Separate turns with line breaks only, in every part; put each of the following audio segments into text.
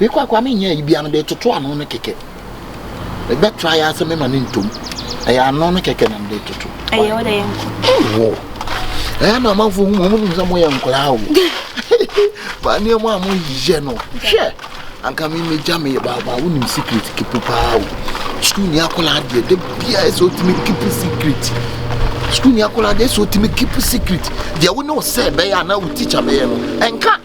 Mekɔ a koraa menyɛ ayi bia mede toto ano no kɛkɛ. Mebɛ try asɛ mema ne ntom. Ɛyɛ ano no kɛkɛ na mede toto. Ɛyɛ wo dɛ yɛ nko. Ɛwɔ. Ɛyɛ na amanfo hu mo mo nim sɛ mo yɛ nkoraa o. Ba ne mo a mo yɛ no. Hwɛ. Anka me me gya me ba ba wo nim secret keep paa o. School ni akola adeɛ de bia ɛsɛ otimi keep secret. School ni akola adeɛ ɛsɛ otimi keep secret. Deɛ wo ne wo sɛ bɛyɛ ana wo teacher bɛyɛ no. Ɛnka.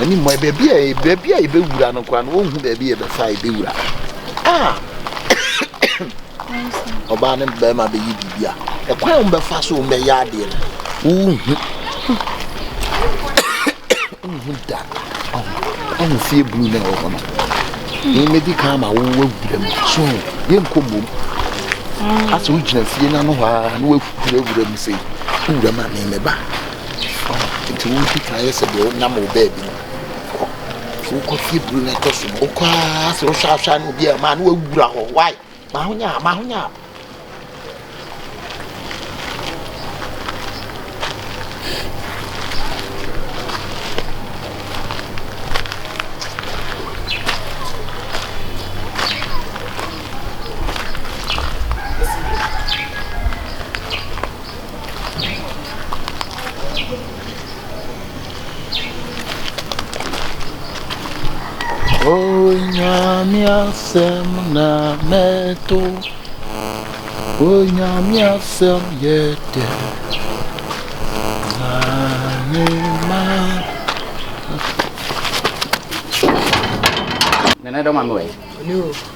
Anim hɔ, baabi a baabi a yɛbɛwura no koraa no wɔnhu baabi a yɛbɛfa a yɛbɛwura a ɔbaa ne bɛrima bɛyɛ biribi a ɛkwan a wɔbɛfa so wɔbɛyɛ adeɛ no wohu wohu da ɔho fie blu na ɛwɔ hɔ no yɛmɛdi kan ma wowɔ awura mu so yɛnkɔ mmom asɛ wogyina fie no ano hɔ a na woawura mu sɛ wowura ma ne mɛba Enti wo nkutoo ayɛ sɛ deɛ wonam wo baabi no kɔ. Nti wokɔ fie duru na ɛtɔ so no wokɔ ara sɛ wohwɛ ahwɛ na obi a ɛmaa na wawura hɔ wae ma ho nyaa ma ho nyaa. Onyame asɛm na mɛto Onyame asɛm yɛ dɛ na ne ma
Nana dɔ ma me wɛ.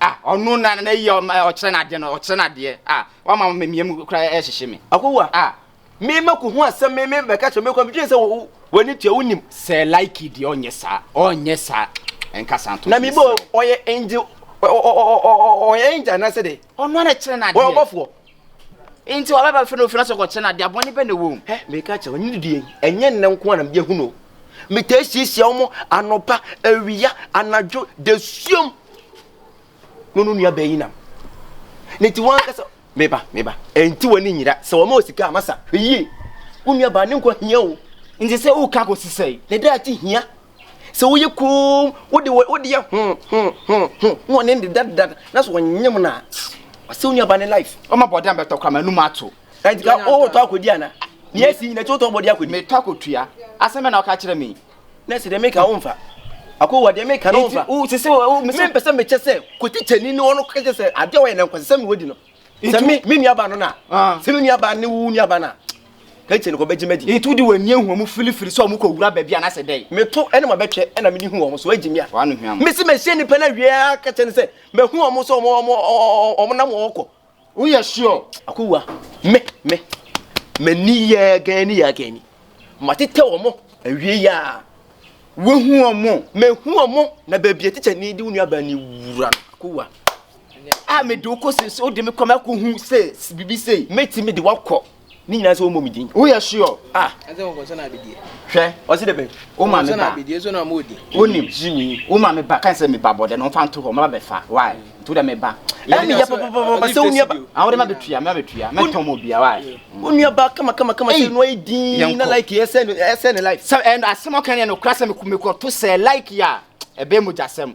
Ah ɔno na na yi ɔkyerɛ n'adeɛ no ɔkyerɛ n'adeɛ ah wama ma mmiɛ mu kura ɛhyehye me. Akowa ah me ma ko ho asɛm me me bɛka kyerɛ me kɔ medwene sɛ w'ani tua wonim. Sɛ like deɛ ɔnyɛ saa ɔnyɛ saa ɛnka saa nto so. Na me bɔ ɔyɛ angel ɔyɛ angel anaasɛ dɛ. Ɔno ara na ɛkyerɛ n'adeɛ. Ɔyɛ ɔbɔfoɔ. Enti ɔbɛba bɛfrɛ no ofie no ase kɔkyerɛ no adeɛ abɔne bɛ na ɛwɔ mu. Hɛ, meka akyerɛ wo, ne didie yi, ɛnyɛ nnɛ nko ara na mede ahunu o. Metaa siasia wɔn anɔpa, awia, anadwo, dasuom. No no nua bɛyi nam. Ne ti wɔn ankasa, meba, meba. Ɛnti wɔn ani nyira, sɛ wɔn ma osika a, masa, hwɛ yie. Wo nua baa ne nkwa hia o. Nti sɛ woka kɔsi sɛe? Ne daakye hia. sɛ woyɛ koom wode wode yɛ ho ho ho ho na ɔne ne dada na so ɔnyem no a ɔsɛ wo nuaba ne life ɔma bɔde a bɛtɔ kora ma anum ato ɛnti ka wotɔ akɔdi ana ne asi nyina ti wotɔ bɔde akɔdi metɔ akɔtua asɛm bɛ na woka kyerɛ me na sɛ deɛ meka womfa akɔwa deɛ meka no womfa mempɛ sɛ mekyɛ sɛ kɔtikyani ne ɔno kɛkyɛ sɛ adeɛ wɔyɛ na nkɔsɛ sɛ mewadi no sɛ me me nuaba no na ah. sɛ me nuaba ne wo nuaba na kɛkyɛ no kɔbɛgye madi ɛti wode w'ani ahu ɔmo
filifili sɛ ɔmo kɔ wura baabi anasɛ dɛn meto ɛne ma bɛtwɛ
ɛna mede hu ɔmo so agye me a mese mahyia
nnipa no awie
a kɛkyɛ no sɛ mahu ɔmo sɛ ɔmo nam ɔɔkɔ woyɛ sure
akowua
me me m'ani yɛ gani yɛ gani matetɛ ɔmo awie yɛ a wohu
ɔmo mehu ɔmo
na baabi a tikya ni de wo nuaba ni wura no akowua a
mede wo kɔ se so wode me kɔ me akɔ hu se bibi sei mɛtumi de wakɔ
ne nyinaa sɛ wɔmmɔ me din woyɛ sure ah
hwɛ ɔse dɛ bɛn
wo ma me ba
wonim jimmy
wo ma me ba kan sɛ me ba bɔdɛ no ɔmfa nto hɔ maba bɛfa why nti wodɛ me ba ɛne yɛ pɔpɔpɔpɔ
sɛ wo nua ba a wode ma bɛtua mɛ
bɛtua mɛtɔn mu obia why wo nua ba kama kama
kama sɛ no ayɛ din na like yɛ sɛ ne like sɛ ɛn asɛm ɔka ne yɛ
no kora sɛ mekɔ to sɛ like yɛ a ɛbɛyɛ mogyasɛm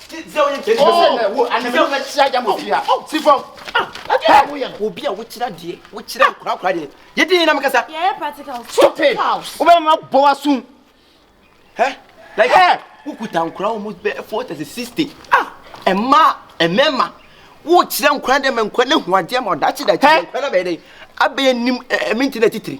obi a wokyerɛ adeɛ wokyerɛ nkorakora deɛ yɛdi yɛ nam kasa
stupid
wobɛma bɔ asom
like wokuta nkora wɔ mu bɛ forty sɛ sixty ɛma ɛmɛma wokyerɛ nkora dɛ ma nkora no hu adeɛ ma ɔdakye dakye nkora no bɛyɛ dɛ abɛyɛ nim ɛminti na titiri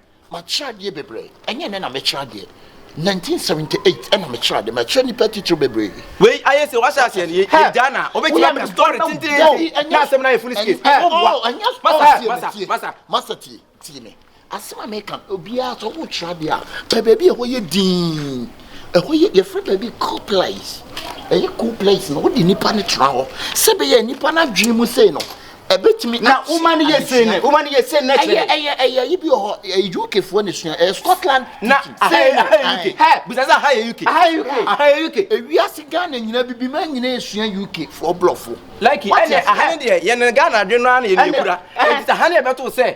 Makyerɛ
adeɛ bebree, ɛnyɛ ɛnnɛ na mekyerɛ adeɛ, 1978 ɛna mekyerɛ adeɛ, makyerɛ nnipa atitire bebree. Wei ayɛ sɛ wahyɛ
aseɛ no yɛgya na wobɛtumi aka story tententen na asɛm no ayɛ funu sike
masa tie tie me asɛm a meka no obiara sɛ wokyerɛ adeɛ a pɛ baabi a ɛhɔ yɛ din ɛhɔ yɛ yɛfrɛ baabi cool place ɛyɛ cool place na wode nnipa no tra hɔ sɛ bɛyɛ nnipa no adwene mu sei no ɛbɛtumi na woma no yɛ sei
ne woma no yɛ sei ne kyerɛ ɛyɛ
ɛyɛ yi bi wɔ hɔ ɛyɛ uk foɔ ne sua ɛyɛ scotland na aha
yɛ uk hɛ bisa sɛ aha yɛ uk aha yɛ uk aha yɛ uk ewiase
ghana nyina bibi ma nyina esua uk foɔ blɔfo like ɛnɛ aha
ne deɛ yɛn ghana adwene no ara na yɛn ekura ɛnti aha ne yɛbɛto sɛ